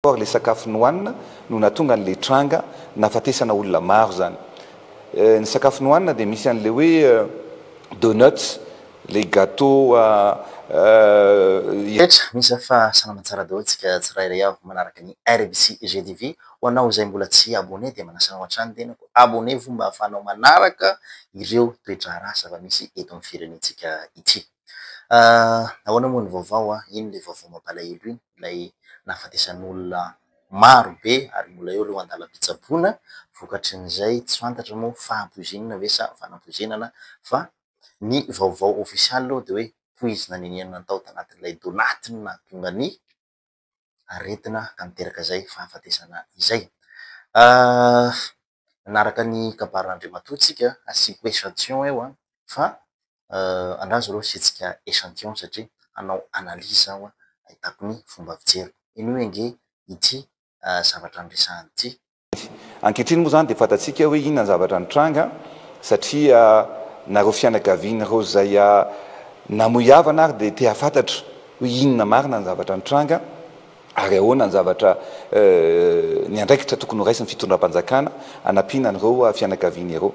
or le sakafo nohanina no natonga anle tranga nafatesana olona maro zany ny sakafo nohanina de misy anle hoe donuts le gateau Hetra, misa fa salama tsara daholo tsika tsirairay avy manaraka ny RBC GTV, ho anao izay mbola tsy abonné dia manasa anao hatrany ny tenako abonné-vo mba ahafahanao manaraka ireo toe-draharaha zava-misy eto amin'ny firenentsika ity. Ahoana moa ny vaovao an? Ino le vaovao mampalahelo iny? Ilay nahafatesan'olona maro be ary mbola eo ireo andalam-pitsaboana vokatry ny izay tsy fantatra moa fahapoizinana ve sa fanapoizinana fa ny vaovao ofisialy aloha dia hoe poizina nenianina tao tanatin'ilay donatina dongania. aretina ka miteraka izay fahafatesana izay. Nanaraka ny kabarin'Andriamatoa tsika, asiako echantillon eo fa andraso aloha asiantsika echantillon satria hanao analyse aho ahitako ny fomba fijeriko. Henoy ange ity zavatra niresahany ity Covid. Ankehitriny moa izany dia fantatsika hoe inona ny zavatra nitranga satria na ireo fianakaviana ireo izay namoy havana ary dia te hahafantatra hoe inona marina ny zavatra nitranga ary ahoana ny zavatra ny andraikitra tokony ho raisin'ny fitondram-panjakana hanampiana an'ireo fianakaviana ireo.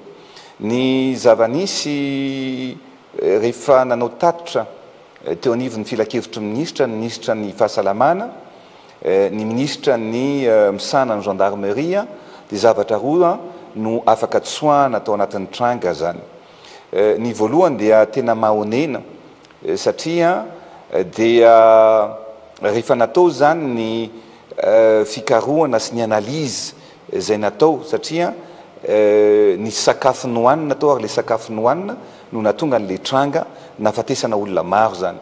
Ny zava-nisy rehefa nanao tatitra teo anivon'ny filankevitry ny minisitra ny minisitra ny fahasalamana, ny minisitra ny misahana ny gendarmerie dia zavatra roa no afaka tsoahana tao anatin'ny tranga zany ny voalohany dia tena mahonena satria dia rehefa natao zany ny fikarohana sy ny analyse izay natao satria nisy sakafo nohanina tao ary ilay sakafo nohanina no nahatonga an'ilay tranga nahafatesana olona maro zany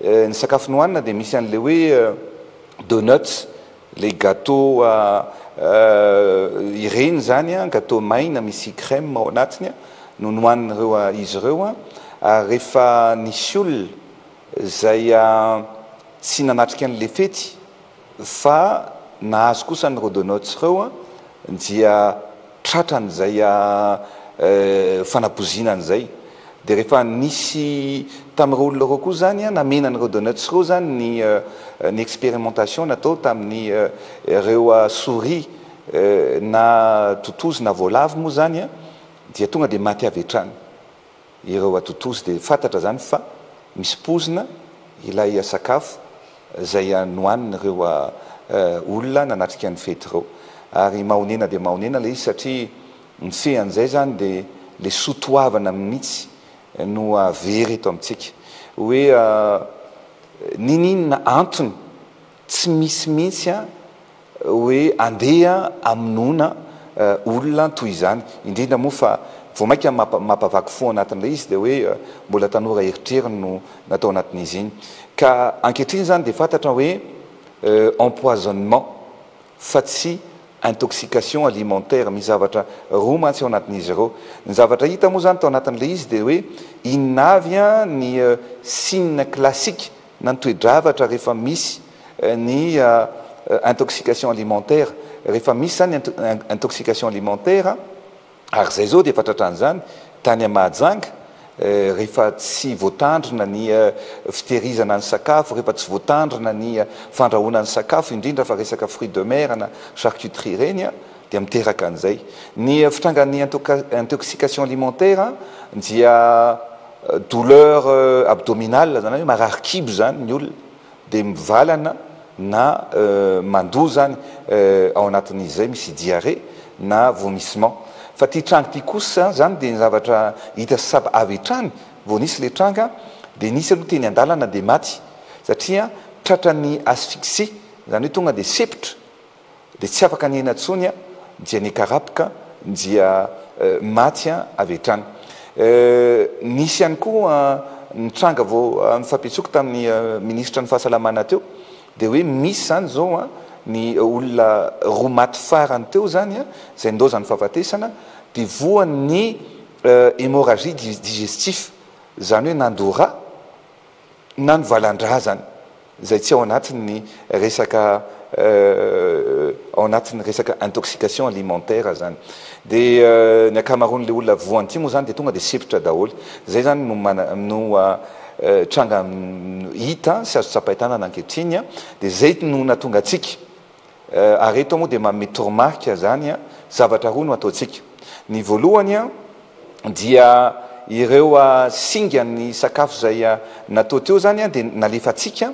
Ny sakafo nohanina dia misy an'ilay hoe donuts, ilay gateau ireny izany, gateau maina misy crème ao anatiny no nohanin'ireo izy ireo. Ary rehefa nisy olona izay tsy nanatrika an'ilay fety, Fa nahazo kosa ny Rodonots reo dia tratra an'izay fanapoziana an'izay. Dia rehefa nisy tamin'ireo olona ireo koa izany namena an'i Rodonots ireo izany ny ny expérimentation natao tamin'ny ireo souris na totozy na voalavo moa izany dia tonga dia maty avy hatrany. ireo atotozy dia fantatra izany fa misy poizina ilay sakafo izay nohanin'ireo olona nanatrika ny fety ireo. Ary mahonena dia mahonena ilay izy satria mifehy an'izay izany dia ilay soa toavana mihitsy no very eto amintsika. Hoe niniinona antony Tsy misy mihitsy an hoe andeha amonoana olona toy izany, indrindra moa fa vao mainka mampavaky fo ao anatin'ilay izy dia hoe mbola tanora eritreriny no natao anatin'izy iny. Ka ankehitriny izany dia fantatra hoe empoisonnement fa tsy intoxication alimentaire, misy zavatra roa mantsy ao anatin'izy ireo. Ny zavatra hita moa izany tao anatin'ilay izy dia hoe inona avy ny signe classique na ny toe-javatra rehefa misy ny intoxication alimentaire, rehefa misy izany ny intoxication alimentaire ary izay izao dia efa tratran'ny izany tany amin'ny Mahajanga rehefa tsy voatandrina ny fitehirizana ny sakafo, rehefa tsy voatandrina ny fandrahoana ny sakafo indrindra fa resaka fruits de mer na charcuterie ireny dia miteraka an'izay. Ny fitrangan'ny intoxication alimentaire dia. Douleur abdominale zany hoe marary kibo zany ny olona dia mivalana na mandoa zany ao anatin'izay misy diarrhée na vomissement. Fa ity tranga ity kosa zany dia zavatra hita sab avy hatrany vao nisy ilay tranga dia nisy aloha teny an-dalana dia maty satria tratran'ny asphyxie zany hoe tonga dia sepotra dia tsy afaka nihena intsony an, dia nikarapoka dia maty avy hatrany. Nisy ihany koa ny tranga vao nifampiantsoiko tamin'ny minisitra ny fahasalamana teo dia hoe misy izany izao an, ny olona roa maty farany teo izany an, izay nilaozan'ny fahafatesana dia voan'ny hémorragie digestif, izany hoe nandora. na ny valan-drazany izay tsy ao anatin'ny resaka ao anatin'ny resaka intoxication alimentaire izany. Dia ny ankamaroan'ilay olona voan'ity moa izany dia tonga dia sempotra daholo. Izay izany no mana no tranga hita sy azo tsapain-tanana ankehitriny dia izay no nahatonga antsika Ary eto moa dia manome toromarika izany zavatra roa no ataontsika. Ny voalohany dia ireo singan'ny sakafo izay natao teo izany dia nalefantsika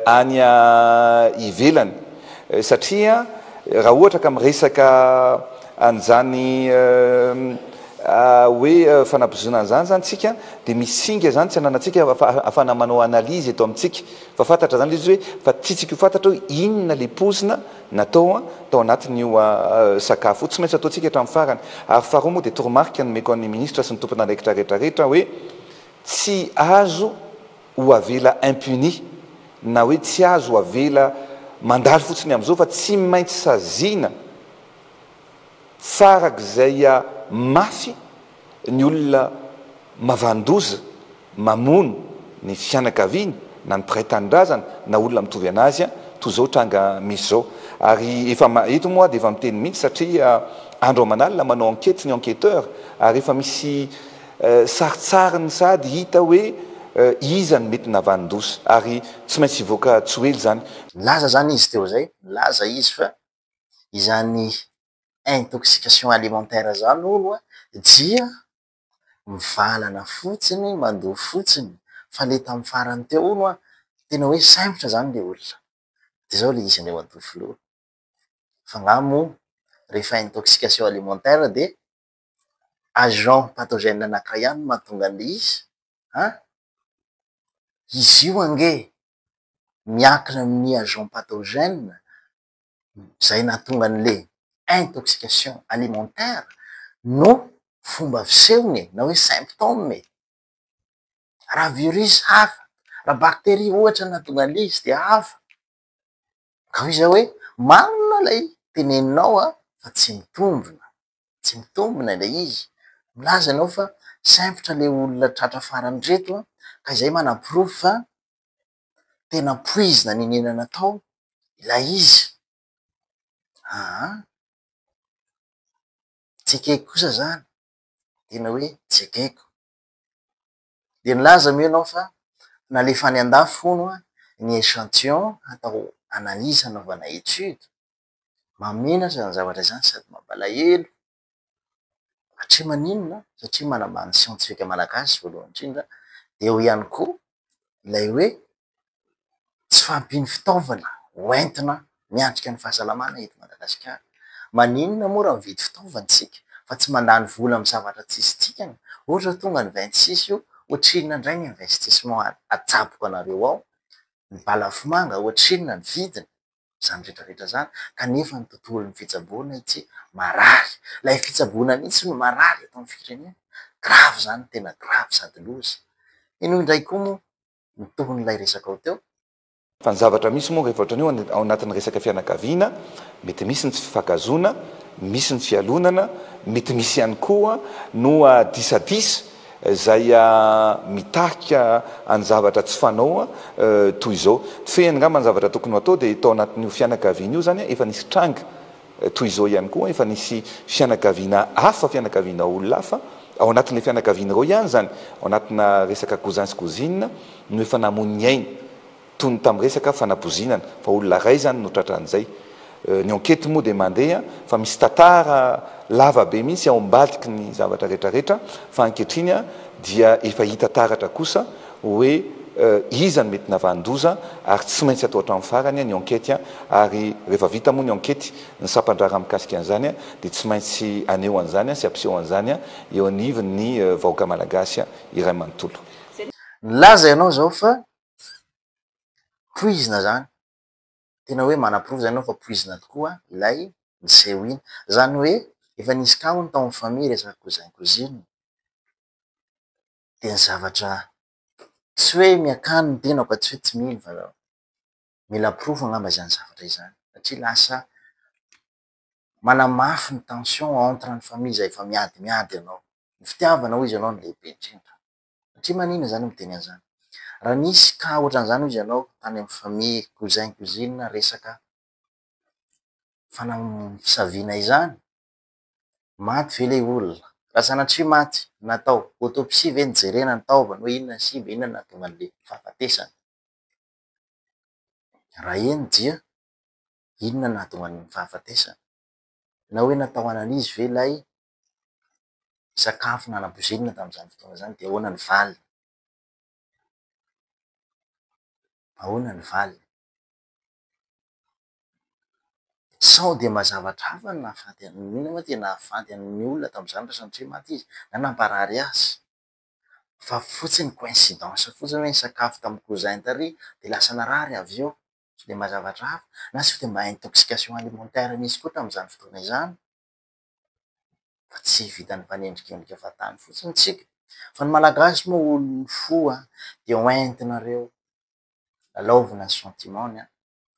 any ivelany satria raha ohatra ka miresaka an'izany hoe fanabozoana an'izany izany isika dia misy singa izany tsy ananantsika fa afahana manao analyse eto amintsika Fa fantatra zany le izy hoe fa tsy tsika io fantatra hoe inona le pozina natao an tao anatin'io sakafo io. Tsy maintsy ataontsika hatramin'ny farany. Ary faharoa moa dia toromarika nomeko an'ny ministra sy ny tompon'andraikitra rehetra rehetra hoe tsy azo ho avela impuni na hoe tsy azo ho avela mandalo fotsiny amin'izao fa tsy maintsy saziana farak'izay mafy Ny olona mavan-doza mamono ny fianakaviany na ny mpiray tanindrazana na olona mitovy an'azy toa izao tranga misy izao. Ary efa eto moa aho dia efa miteny mihitsy satria andro aman'alina manao enquete ny enquêteur ary efa misy sarintsariny sady hita hoe iza no mety navan-doza ary tsy maintsy hivoaka tsy ho ela izany. Nilaza izany izy teo izay, nilaza izy fa izany intoxication alimentaire zany hono a dia mivalana fotsiny, mandoa fotsiny fa le tamin'ny farany teo hono a tena hoe sempotra zany le olona de zao le izy anie matoa filoha fa nga moa rehefa intoxication alimentaire dia agent pathogène anankiray ihany no mahatonga an'le izy an! izy io ange miankina amin'ny agent pathogène izay nahatonga an'le intoxication alimentaire no fomba fisehony e, na hoe symptôme e. Raha virus hafa, raha bacterie ohatra no nahatonga an'le izy dia hafa. Ka hoy zay hoe marina ilay teneninao a, fa tsy mitombina, tsy mitombina ilay izy. Milaza ianao fa sempotra le olona tratra farany reto ka izay manaporofo fa tena poizina nenenana tao ilay izy aa tsy ekeko kosa izany tena hoe tsy ekeko dia nilaza moa ianao fa nalefa any an-dafy hono ny echantillon hatao analyse hanaovana étude, mamena izany zavatra izany sady mampalahelo Satria maninona? Satria manambany ny siantifika malagasy voalohany indrindra, dia eo ihany koa ilay hoe tsy fahampian'ny fitaovana hoentina miatrika ny fahasalamana eto Madagasikara. Maninona moa raha mividy fitaovana isika fa tsy mandany vola amin'ny zavatra tsy izy dikany? Ohatra tonga ny 26 io, ohatrinona indray ny investissement atsaboko anareo ao? Ny balafomanga ohatrinona ny vidiny? izany rehetra rehetra izany kanefa ny tontolon'ny fitsaboana itsy marary. Ilay fitsaboana mihitsy no marary eto amin'ny firenena. Grave izany, tena grave sady loza. Inoa indray koa moa ny tohin'ilay resakao teo? Fa ny zavatra misy moa rehefa ohatran'ny hoe ao anatin'ny resaka fianakaviana, mety misy ny tsy fifankahazoana, misy ny fialonana, mety misy ihany koa no disadisa Zay mitarika any zavatra tsy fanao toy izao. Fehiny ngamba ny zavatra tokony ho atao dia tao anatin'io fianakaviana io zany efa nisy tranga toy izao ihany koa, efa nisy fianakaviana hafa, fianakaviana olona hafa, ao anatin'ilay fianakaviana ireo ihany zany, ao anatina resaka cousin sy cousine no efa namoy ny ainy. toy ny tamin'ny resaka fanapozinana fa olona iray izany no tratra an'izay. Ny enquete moa dia mandeha fa misy tantara lava be mihitsy ao ambadiky ny zavatra rehetra rehetra fa ankehitriny dia efa hita taratra kosa hoe iza no mety navanon-doza ary tsy maintsy atao hatramin'ny farany ny enquete ary rehefa vita moa ny enquete ny sampan-draharaha mikasika an'izany dia tsy maintsy aneho an'izany sy ampiseho an'izany eo anivon'ny vahoaka malagasy iray manontolo. Nilaza ianao izao fa poizina zany, tena hoe manaporofo zany enao fa poizina tokoa ilay miseho iny, zany hoe efa nisy cas hono tao am famille resaka cousin cousine, de ny zavatra tsy hoe miakany ny tenako fa tsy hoe tsy mino fa mila porofo angamba zany zavatra zany satria lasa manamafy ny tension entre ny famille zay efa miadimiady enao, ny fitiavana hoy izy enao no lehibe indrindra. satria maninona izany miteny an'izany? Raha nisy cas ohatran'izany hozy ianao tany amin'ny famille, cousin, cousine resaka fanamosaviana izany, maty ve ilay olona? Raha sanatria maty, natao autopsie ve nijerena ny taovany hoe inona ny simba, inona no nahatonga an'ilay fahafatesana? Raha eny dia inona no nahatonga ny fahafatesana? Na hoe natao analyse ve ilay sakafo nanabozinina tamin'izany fotoana izany dia ahoana ny valiny? Ahoana ny valiny? Sao dia mba zavatra hafa no nahafaty an'i, inona moa dia nahafaty an'iny olona tamin'izany raha sanatria maty izy na namparary azy? Fa fotsiny coïncidence fotsiny hoe nisakafo tamin'ny cousin tary dia lasa narary avy eo? Sao dia mba zavatra hafa? Na sao dia mba intoxication alimentaire nisy koa tamin'izany fotoana izany? fa tsy vitan'ny mpanendrika endrika fahatany fotsiny isika fa ny malagasy moa olon'ny fo an! dia hoentinareo lalaovina ny sentiment ny an!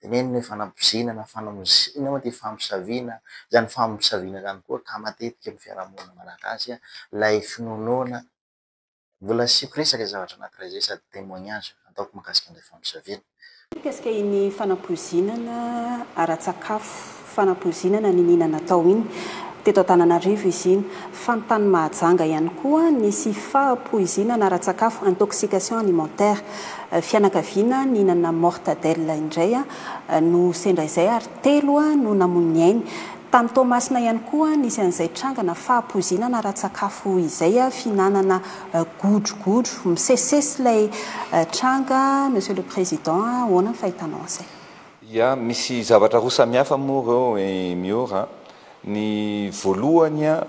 tenenina hoe fanabozina na fanamozina moa dia famosaviana izany famosaviana izany koa ka matetika amin'ny fiarahamonina malagasy ilay finoanoana Mbola asiako resaka zavatra anankiray izay sady témoignage ataoko mahakasika an'ilay famosaviana. Mikasika iny fanampoizinana ara-tsakafo, fanampoizinana niniana natao iny. Teto Antananarivo izy iny. Fa ny tany Mahajanga ihany koa nisy fahapoizinana ara-tsakafo, intoxication alimentaire. Fianakaviana nihinana mortadelle indray no sendra izay ary telo no namoy ny ainy. Tany Toamasina ihany koa nisy an'izay trangana fahapoizinana ara-tsakafo izay, fihinanana godrogodro. Misesisesy ilay tranga Monsieur le Président a! Ahoana ny fahitanao an'izay? Ya, misy zavatra roa samihafa moa ireo eh Miora a! Ny voalohany a,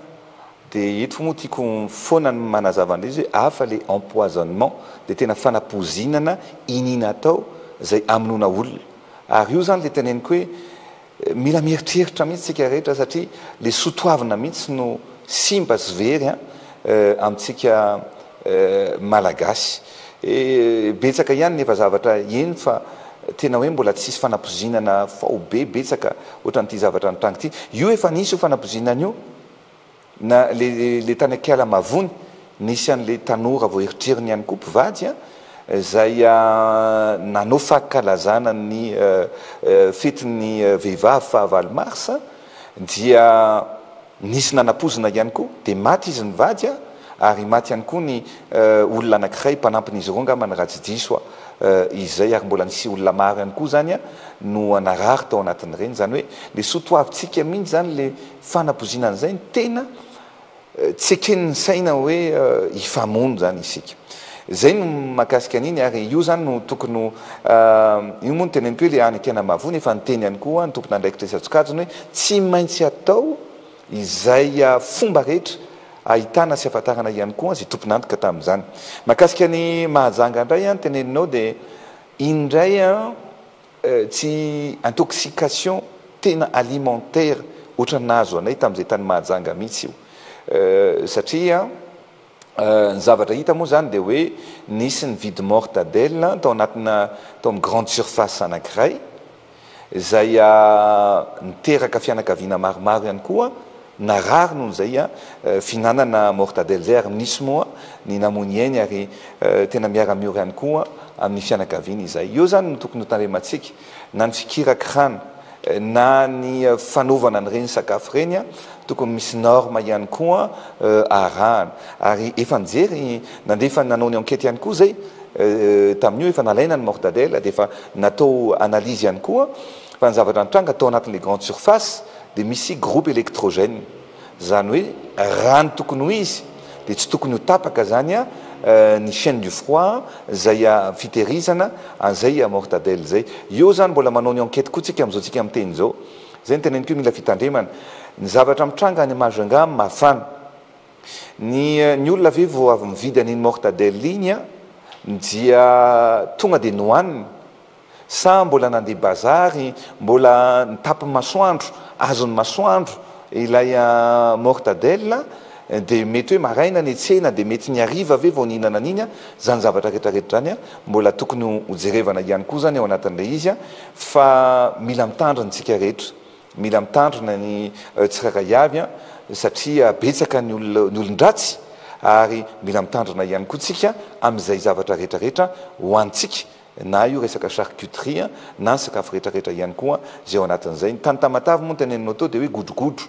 dia eto moa tiako foana ny manazava an'ilay izy hoe hafa ilay empoisonnement, ilay tena fanapoizinana iniana atao izay amonoana olona. Ary io izany ilay teneniko hoe, Mila mieritreritra mihitsy tsika rehetra satria le soa toavina mihitsy no simba sy very an amintsika malagasy. Betsaka ihany ny efa zavatra heno fa tena hoe mbola tsisy fanapozinana faobe betsaka ohatran'ity zavatra nitranga ity. Io efa nisy io fanapozinana io. Na le le tany akiala mavony nisy anle tanora vao eritreriny ihany koa mpivady a zay a nanao fankalazana ny fetin'ny vehivavy faha valo mars a dia nisy nanapozina ihany koa de maty izy nivady a ary maty ihany koa ny olona anakiray mpanampin'izy ireo angamba ny raha tsy diso a izay ary mbola nisy olona maro ihany koa zany a no narary tao anatin'ireny zany hoe le soa toavintsika mihintsy zany le Fanapozinana izay ny tena tsy eken'ny saina hoe hifamono izany isika. Izay no mahakasika an'iny ary io izany no tokony ho, io moa no teneniko hoe ilay any Ankiana Mahavoa nefa niteny ihany koa ny tompon'andraikitra isan-tsokajiny hoe tsy maintsy atao izay fomba rehetra ahitana sy ahafantarana ihany koa izay tompon'antoka tamin'izany. Mahakasika an'i Mahajanga indray ny teneninao dia iny indray Tsy intoxication tena alimentaire ohatran'ny nahazo anay tamin'izay tany Mahajanga mihitsy io. Satria ny zavatra hita moa izany dia hoe nisy nividy mortadelle tao anatina tao amin'ny grande surface anankiray izay niteraka fianakaviana maromaro ihany koa. Narary noho izay an fihinanana mortadelle zay ary misy moa ny namoy ny ainy ary tena miara miory ihany koa amin'ny fianakaviany izay. Eo zany no tokony ho tandremantsika na ny fikirakirana na ny fanaovana an'ireny sakafo ireny an tokony misy norme ihany koa arahana ary efa nijery nandefa nanao ny enquete ihany koa zay tamin'io efa nalaina ny mortadelle dia efa natao analyse ihany koa fa ny zavatra nitranga tao anatin'ilay grande surface dia misy groupe électrogène izany hoe raha ny tokony ho izy dia tsy tokony ho tapaka izany ny chaine du froid izay fitehirizana an'izay mortadelle izay. Eo izany mbola manao ny enquête koa tsika amin'izao tsika miteny izao. Izay no teneniko hoe mila fitandremana. Ny zavatra mitranga any Majunga mafana. Ny ny olona ve vao avy mividy an'iny mortadelle iny dia tonga dia nohaniny? Sa mbola nandeha bazary, mbola nitapy masoandro, azon'ny masoandro ilay mortadelle, dia mety hoe maraina netsena dia mety ny hariva ve vao nihinana an'iny an, zany zavatra rehetra rehetra zany an, mbola tokony ho jerevana ihany koa zany ao anatin'ilay izy an, fa mila mitandrina isika rehetra, mila mitandrina ny tsirairay avy an, satria betsaka ny olona ny olon-dratsy ary mila mitandrina ihany koa tsika amin'izay zavatra rehetra rehetra hohanintsika na io resaka charcuterie na ny sakafo rehetrarehetra ihany koa izay ao anatin'izay. Ny tany Tamatave moa ny teneninao teo dia hoe godrogodro.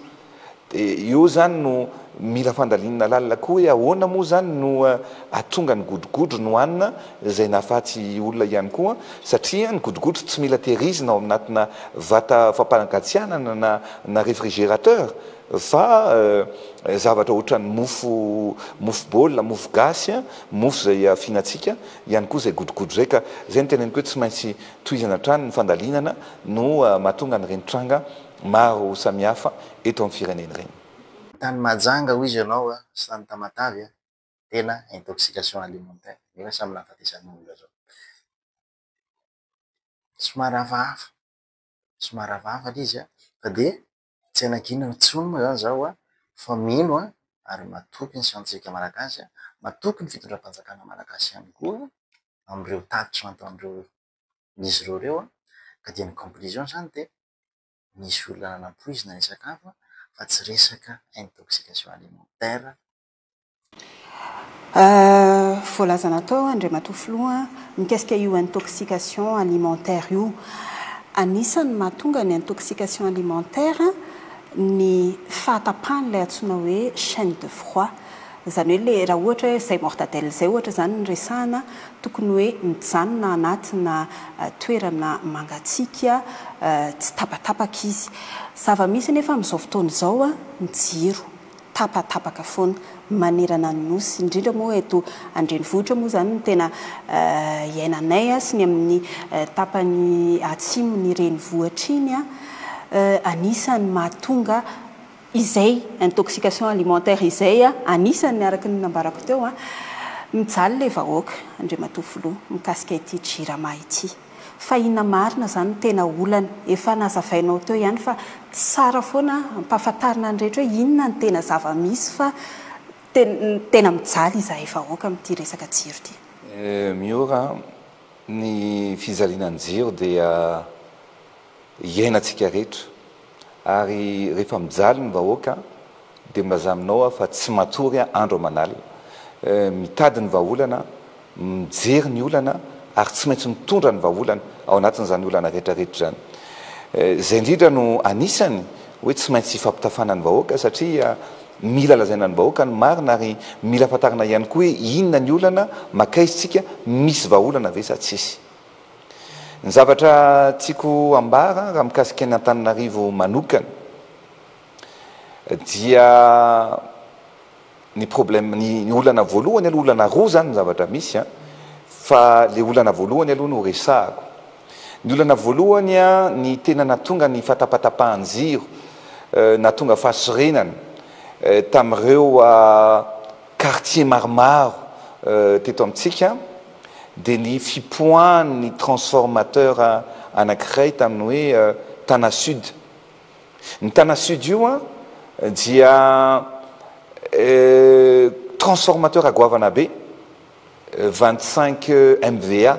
Dia eo izany no mila fandalinana lalina koa hoe ahoana moa izany no ahatonga ny godrogodro no hanina izay nahafaty olona ihany koa satria ny godrogodro tsy mila tehirizina ao anatina vata fampanagatsiahana na na refrigerateur fa zavatra ohatran'ny mofo mofo baolina, mofo gasy, mofo izay afianantsika. ihany koa izay godogodo izay ka izay no teneniko hoe tsy maintsy tohizana hatrany ny fandalinana no mahatonga an'ireny tranga maro samihafa eto amin'ny firenena ireny. Tany Mahajanga hoy izy ianao a, sy tany Tamatave a, tena intoxication alimentaire, nefa samy nahafatesan'ny olona zao. Somary hafahafa, somary hafahafa le izy a, fa dia Tsy hanangina intsony moa izany izaho fa mino ary matoky ny siantsika malagasy, matoky ny fitondram-panjakana malagasy ihany koa amin'ireo tatitra nataon'izy ireo ireo ka dia ny conclusion izany dia misy olona nanampoizina ilay sakafo fa tsy resaka intoxication alimentaire. Voalazana tao Andriamatoa Filoha mikasika io intoxication alimentaire io. Anisan'ny mahatonga ny intoxication alimentaire ny fahatapahan'ilay antsoina hoe chaine de froid. Izany hoe ilay raha ohatra hoe izay mortadelle izay ohatra izany no resahana, tokony hoe mijanona anatina toerana mangatsiaka, tsy tapatapaka izy. Zava-misy anefa amin'izao fotoana izao ny jiro. tapatapaka foana manerana ny Nosy, indrindra moa eto an-drenivohitra moa izany no tena iainanay sy ny amin'ny tapany atsimon'ny renivohitra iny, anisan'ny mahatonga izay intoxication alimentaire izay, anisan'ny araka ny nambarako teo, mijaly ilay vahoaka Andriamatoa Filoha mikasika ity Jirama ity. Fa inona marina zany no tena olana? Efa nazavainao teo ihany fa tsara foana ampahafantarina ny rehetra hoe inona ny tena zava-misy fa tena mijaly izahay vahoaka amin'ity resaka jiro ity. Miora an, ny fijaliana ny jiro dia iainantsika rehetra. Ary rehefa mijaly ny vahoaka dia milaza aminao aho fa tsy matory andro aman'alina. Mitady ny vahaolana, mijery ny olana ary tsy maintsy mitondra ny vahaolana ao anatin'izany olana rehetra rehetra izany. Izay indrindra no anisany hoe tsy maintsy ifampitafana ny vahoaka satria mila lazaina ny vahoaka ny marina ary mila fantarina ihany koa hoe inona ny olana, makaiza isika, misy vahaolana ve sa tsisy. Ny zavatra tiako ambara raha mikasika an' Antananarivo manokana dia ny problème, ny olana voalohany aloha, olana roa zany ny zavatra misy an, fa le olana voalohany aloha no resahako. Ny olana voalohany an, ny tena natonga ny fatapatapahan-jiro, natonga fahasorenana tamin'ireo. Quartiers maromaro teto amintsika dia ny fipoahan'ny transformateur anankiray tamin'ny hoe Tana Sud. Ny Tana Sud io dia transformateur goavana be, vingt cinq MVA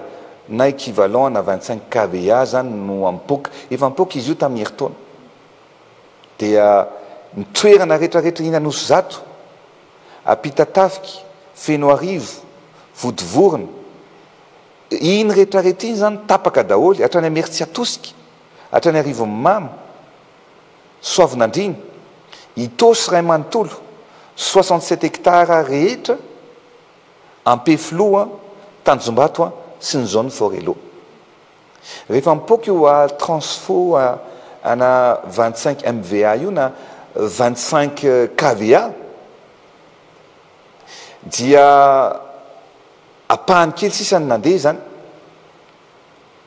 na equivalent na vingt cinq KVA izany no ampoka. Efa ampoka izy io tamin'ny herintaona. Dia ny toerana rehetrarehetra eny Anosizato. Ampitatafika, Fenoarivo, Vodivorona, iny rehetrarehetra iny izany tapaka daholo, hatrany Imeritsiatosika, hatrany Arivonimamo, Soavinandriana, Itaosy iray manontolo, soixante sept hectares rehetra, Ampefiloha, Tanjombato sy ny zone Forello. Rehefa mipoaka io a transfo ana vingt cinq MVA io na vingt cinq KVA dia apahany kely sisa ny nandeha izany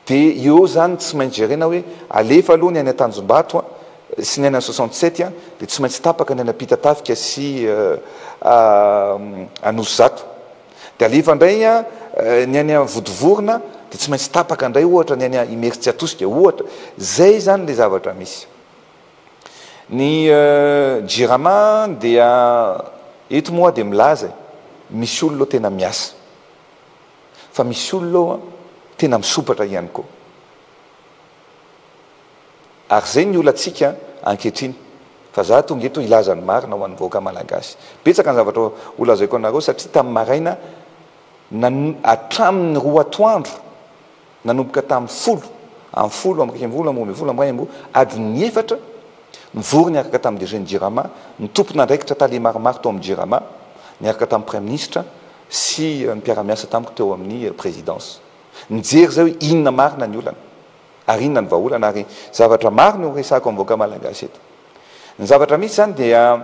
dia eo eo izany tsy maintsy jerena hoe alefa aloha ny any Antanjombato a sy ny any an soixante sept a dia tsy maintsy tapaka ny any Ampitatafika sy Anosizato. Dia alefa indray ny any Vodivorona dia tsy maintsy tapaka indray ohatra ny any Imerintsiatosika ohatra. Izay izany ilay zavatra misy. Ny Jirama dia eto moa aho dia milaza e, misy olona ao tena miasa. Fa misy olona ao tena misompatra ihany koa. Ary zay ny olantsika ankehitriny fa za tonga eto hilaza ny marina ho an'ny vahoaka malagasy. Betsaka ny zavatra holazaiko anareo satria tamin'ny maraina hatramin'ny roa atoandro nanomboka tamin'ny folo am folo amby iraika ambin'ny folo amby roa ambin'ny folo amby iray amby roa adin'ny efatra nivory niaraka tamin'ny DG ny Jirama ny tompon'andraikitra tale maromaro tao amin'ny Jirama niaraka tamin'ny Praiminisitra sy ny mpiara-miasa tamiko teo amin'ny Présidence. Mijery izay hoe inona marina ny olana ary inona ny vahaolana ary zavatra maro no horesahako amin'ny vahoaka malagasy eto. Ny zavatra misy izany dia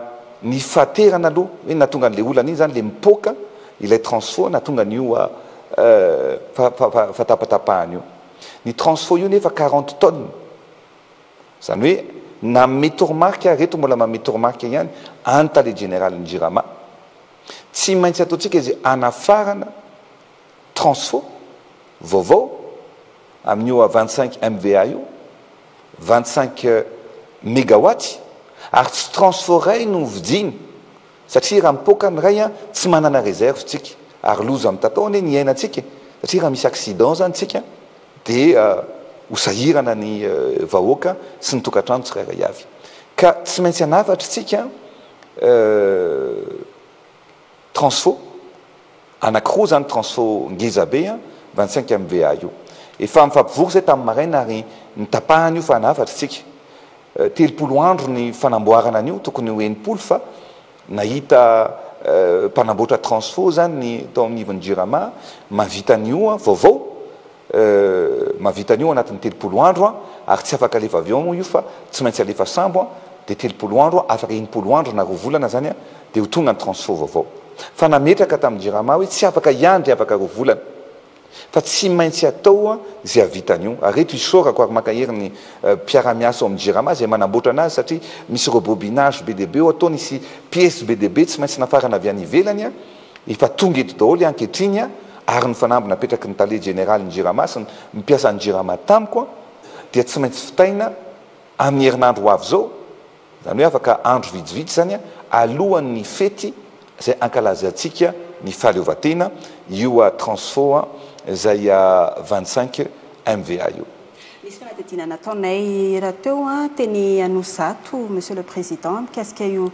ny fahaterana aloha hoe nahatonga an'ilay olana iny izany ilay mipoaka ilay transfo nahatonga an'io fahatapatapahana io. Ny transfo io nefa quarante tonnes. Izany hoe nanome toromarika ary eto mbola manome toromarika ihany any tale jeneralin'ny Jirama. Tsy maintsy ataontsika izay hanafarana. Transfo, vaovao, amin'io a vingt cinq MVA io, vingt cinq megawatt, ary tsy transfo iray no vidiany satria raha mipoaka ny iray a tsy manana reserve tsika ary loza mitatao anie ny iainantsika e, satria raha misy accident zany tsika dia ho sahirana ny vahoaka sy ny tokantrano tsirairay avy ka tsy maintsy hanafatra tsika. Transfo, anankiroa zany transfo ngeza be an, vingt cinq MVA io. Efa nifampivory zay tamin'ny maraina ary nitapahana io fa nahafatra isika. Telopolo andro ny fanamboarana an'io, tokony ho enimpolo fa nahita mpanamboatra transfo zany ny tao amin'ny ivon'ny jirama mahavita an'io vaovao. Euh mahavita an'io anatin'ny telopolo andro an, ary tsy afaka alefa avion moa io fa tsy maintsy alefa sambo an, dia telopolo andro an, afaka enimpolo andro na roa volana zany an, dia ho tonga ny transfo vaovao. Fa nametraka tamin'ny jirama hoe tsy afaka hiandry afaka roa volana, fa tsy maintsy atao an izay hahavita an'io. Ary eto isaorako ary mankahery ny mpiara-miasa ao amin'ny jirama izay manamboatra anazy satria misy rebobinage be dia be ao, ataony hisy piece be dia be tsy maintsy nafarana avy any ivelany an, Efa tonga eto daholo ankehitriny ary ny fanamby napetraky ny tale jeneralin'ny Jirama sy ny mpiasan'ny Jirama tamiko dia tsy maintsy vitaina amin'ny herinandro ho avy izao, izany hoe afaka andro vitsivitsy izany alohan'ny fety izay hankalazantsika ny fahaleovantena io transfo izay vingt cinq MVA io. Nisy fanadihadiana nataonay rahateo teny Anosizato Monsieur le Président mikasika io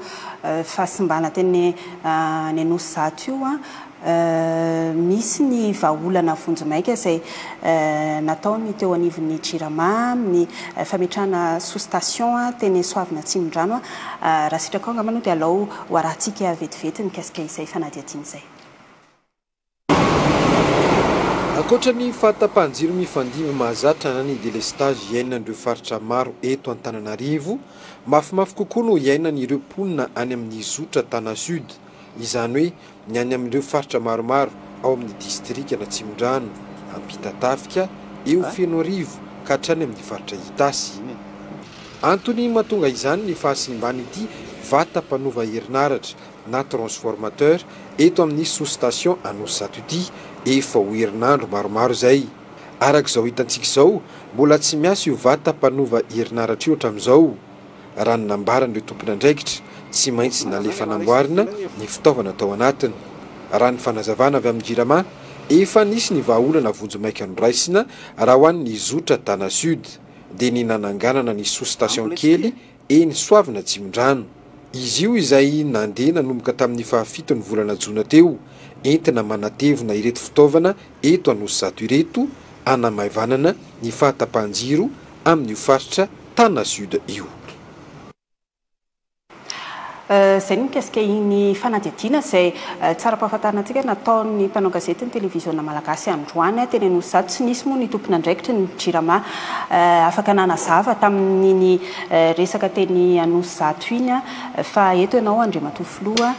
fahasimbana teny any Anosizato io. Misy ny vahaolana vonjimaika izay natao ny teo anivon'ny Jirama amin'ny fametrahana sous-station teny Soavina Atsimondrano. Raha sitraka ao angamba aloha dia alao ho arahintsika vetivety mikasika izay fanadihadiana izay. Ankoatra ny fahatapahan-jiro mifandimby mahazatra na ny delestazy iainan'ireo faritra maro eto Antananarivo, mafimafy kokoa no iainan'ireo mponina any amin'ny zotra Tana Sud, izany hoe ny any amin'ireo faritra maromaro ao amin'ny distrikan'Atsimondrano, Ampitatafika, eo Fenoarivo ka hatrany amin'ny faritra Itasy. Antony mahatonga izany ny fahasimban'ity vata mpanova herinaratra na transformateur eto amin'ny sous-station Anosizato ity efa ho herinandro maromaro izay. Araka izao hitantsika izao, mbola tsy miasa io vata mpanova herinaratra io hatramin'izao. Raha ny nambaran'ireo tompon'andraikitra, tsy maintsy nalefa namboarina ny fitaovana tao anatiny. Raha ny fanazavana avy amin'ny Jirama, efa nisy ny vahaolana vonjimaika noraisina raha ho an'ny zotra Dana Sud, dia ny nananganana ny sous-station kely eny Soavina Atsimondrano. Izy io izay nandeha nanomboka tamin'ny fahafiton'ny volana jona teo, entina manatevina ireto fitaovana eto Anosizato ireto, hanamaivanana ny fahatapahan-jiro amin'io faritra Tana Sud io. Izay ny mikasika iny fanadihadiana izay tsara ampahafantarina antsika nataon'ny mpanao gazety ny televiziona malagasy androany teny Anosizato. Tsy nisy moa ny tompon'andraikitry ny Jirama afaka nanazava tamin'iny resaka teny Anosizato iny fa eto ianao Andriamatoa Filoha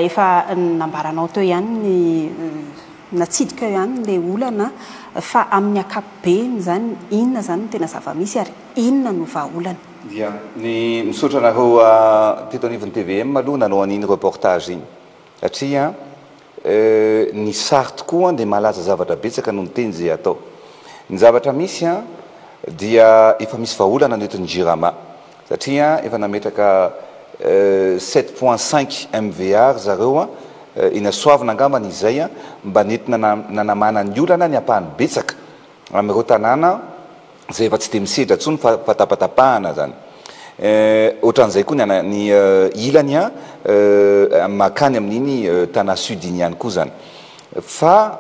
efa nambaranao teo ihany ny natsidika eo ihany ilay olana fa amin'ny ankapobeny izany inona izany no tena zava-misy ary inona no vahaolana. Dia ny misaotra anareo teto anivon'ny tvm aloha nanao an'iny reportage iny satria ny sary tokoa dia mahalaza zavatra betsaka noho ny teny izay atao. Ny zavatra misy dia efa misy vahaolana ny eto ny Jirama satria efa nametraka sept point cinq MVA ry zareo eny Soavina angamba ny izay mba nentina nanamana ny olana ny ampahany betsaka amin'ireo tanàna Zay efa tsy dia misedra tsony fa fa tapatapahana zany eh, otran'izay koa ny ana ny ilany an eh, makany amin'iny Tana sud iny ihany koa zany fa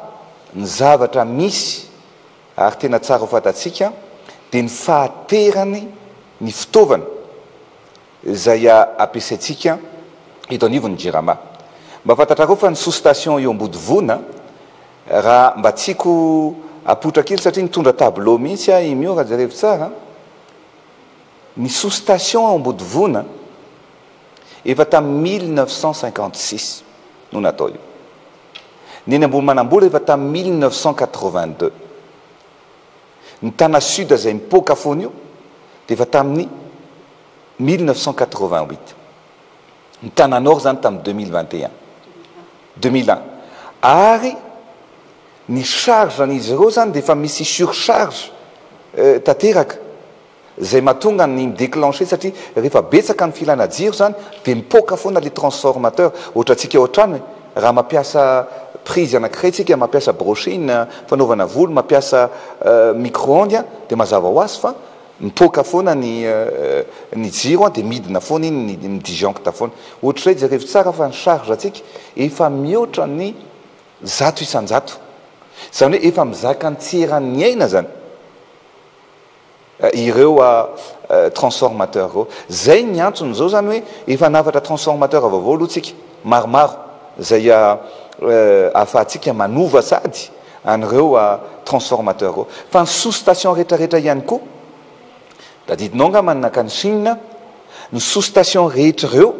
ny zavatra misy ary tena tsara ho fantatsika dia ny fahaterany ny fitaovana izay ampiasaintsika eto anivon'ny Jirama. Mba fantatrareo fa ny sous station eo Ambodivona raha mba tiako apoitra kely satria nitondra tableau mihitsy aho i Mio raha jerevy tsara, ny sous station ao Ambodivona efa tamin'ny mille neuf cent cinquante six no natao io. Ny eny Ambohimanambola efa tamin'ny mille neuf cent quatre-vingt deux. Ny Tana Sud izay mipoaka foana io dia efa tamin'ny mille neuf cent quatre-vingt-huit. Ny Tana Nord izany tamin'ny deux mille vingt et un, deux mille un. Ary ny charge an'izy ireo izany dia efa misy surcharge tanteraka. Zay mahatonga ny mi-declencher satria rehefa betsaka ny filana jiro zany dia mipoaka foana le transformateur, ohatra antsika ao an-trano e, raha mampiasa prise anakiray tsika, mampiasa brushing fanaovana volo, mampiasa micro-ondes a, dia mazava ho azy fa mipoaka foana ny ny jiro dia midina foana iny ny mi-disjoncte foana. Ohatrizay jerevo tsara fa ny charge antsika efa mihoatra ny zato isan-jato. Zany hoe efa mizaka ny tsy eran'ny aina zany. ireo transformateurs ireo. Izay ny antsony izao izany hoe efa hanafatra transformateurs vaovao aloha tsika maromaro izay ahafahantsika manova sady an'ireo transformateurs ireo. Fa ny sous station rehetra rehetra ihany koa, tadidinao angamba ny nankany Chine, ny sous station rehetra ireo,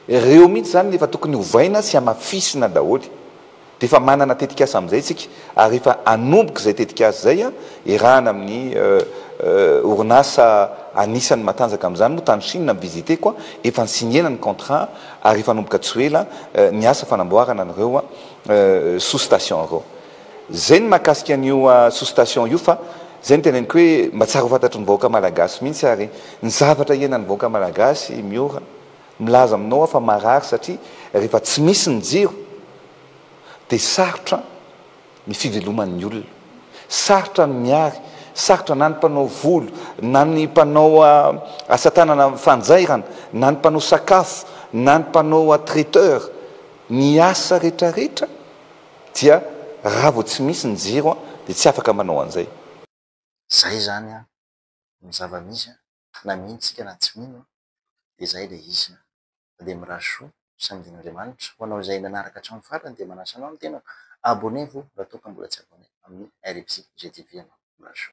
ireo mihitsy izany no efa tokony ovaina sy hamafisina daholo. dia efa manana tetikasa amin'izay isika ary efa hanomboka izay tetikasa izay, iarahana amin'ny orinasa anisan'ny matanjaka amin'izany moa tany Chine no visiteko, efa ni-signer-na ny contrat ary efa hanomboka tsy ho ela ny asa fanamboarana an'ireo sous-station ireo. Izay ny mahakasika an'io sous-station io fa izay no teneniko hoe mba tsara ho fantatry ny vahoaka malagasy mihitsy ary ny zavatra iainan'ny vahoaka malagasy Miora, Milaza aminao aho fa marary satria rehefa tsy misy ny jiro dia sarotra ny fiveloman'ny olona. Sarotra ny miary, sarotra na ny mpanao volo, na ny mpanao asa tanana fanjairana, na ny mpanao sakafo, na ny mpanao traiteur. Ny asa rehetrarehetra dia raha vao tsy misy ny jiro dia tsy afaka manao an'izay. Izay izany ny zava-misy. na mino tsika na tsy mino dia izay ilay izy fa dia mirary soa saingin'Andriamanitra ho anao izay nanaraka hatramin'ny farany dia manasa anao ny tenako abonnez vous raha toa ka mbola tsy abonnez amin'ny RIBZTV ianao. Mirary soa.